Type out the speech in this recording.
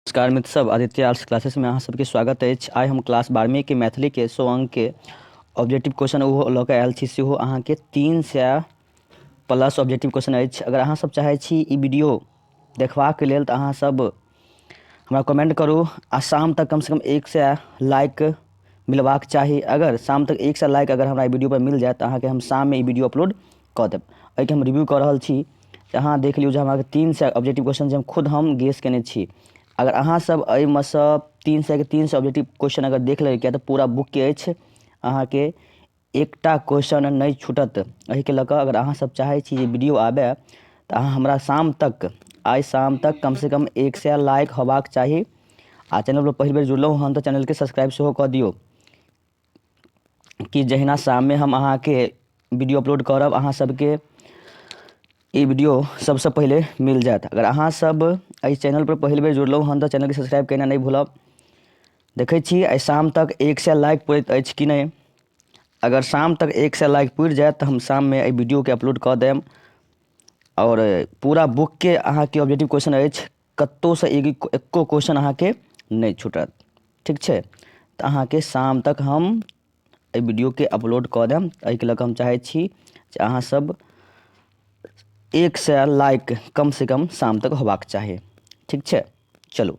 नमस्कार मित्र सब आदित्य आर्ट्स क्लासेस में अहाँ सबके स्वागत अछि आइ हम क्लास बारहवीं के मैथिली के सौ अंक के ऑब्जेक्टिव क्वेश्चन ओहो लऽ कऽ आयल छी सेहो अहाँके तीन सए प्लस ऑब्जेक्टिव क्वेश्चन अछि अगर अहाँ सब चाहै छी ई वीडियो देखबाक लेल तऽ अहाँ सब हमरा कमेंट करू आ शाम तक कम से कम एक सए लाइक मिलबाक चाही अगर शाम तक एक सए लाइक अगर हमरा ई वीडियोपर मिल जायत तऽ अहाँके हम शाममे ई वीडियो अपलोड कऽ देब एहिके हम रिव्यू कऽ रहल छी तऽ अहाँ देख लियौ जे हमरा तीन सए ऑब्जेक्टिव क्वेश्चन जे हम खुद हम गेस कयने छी अगर अहाँसभ एहिमे सँ तीन सएके तीन सए ऑब्जेक्टिव क्वेश्चन अगर देख लेबै किएक तऽ पूरा बुकके अछि अहाँके एकटा क्वेश्चन नहि छूटत एहिके लऽ कऽ अगर अहाँसभ चाहै छी जे वीडिओ आबए तऽ अहाँ हमरा शाम तक आइ शाम तक कमसँ कम एक सए लाइक होयबाक चाही आ चैनलपर पहिल बेर जुड़लहुँ हन तऽ चैनलके सब्सक्राइब सेहो कऽ दियौ कि जहिना शाममे हम अहाँके वीडियो अपलोड करब अहाँ सभके ई वीडियो सभसँ पहिले मिल जायत अगर अहाँसभ एहि चैनलपर पहिल बेर जुड़लहुँ हन तऽ चैनलके सब्सक्राइब केनाइ नहि भूलब देखै छी आइ शाम तक एक सए लाइक पुरैत अछि कि नहि अगर शाम तक एक सए लाइक पुरि जायत तऽ हम शाममे एहि वीडियोके अपलोड कऽ देब आओर पूरा बुकके अहाँके ऑब्जेक्टिव क्वेश्चन अछि कतहुसँ एक एक्को क्वेश्चन अहाँके नहि छूटत ठीक छै तऽ अहाँके शाम तक हम एहि वीडियोके अपलोड कऽ देब एहिके लऽ कऽ हम चाहै छी जे अहाँसभ एक सए लाइक कमसँ कम शाम तक होबाक चाही ठीक छै चलू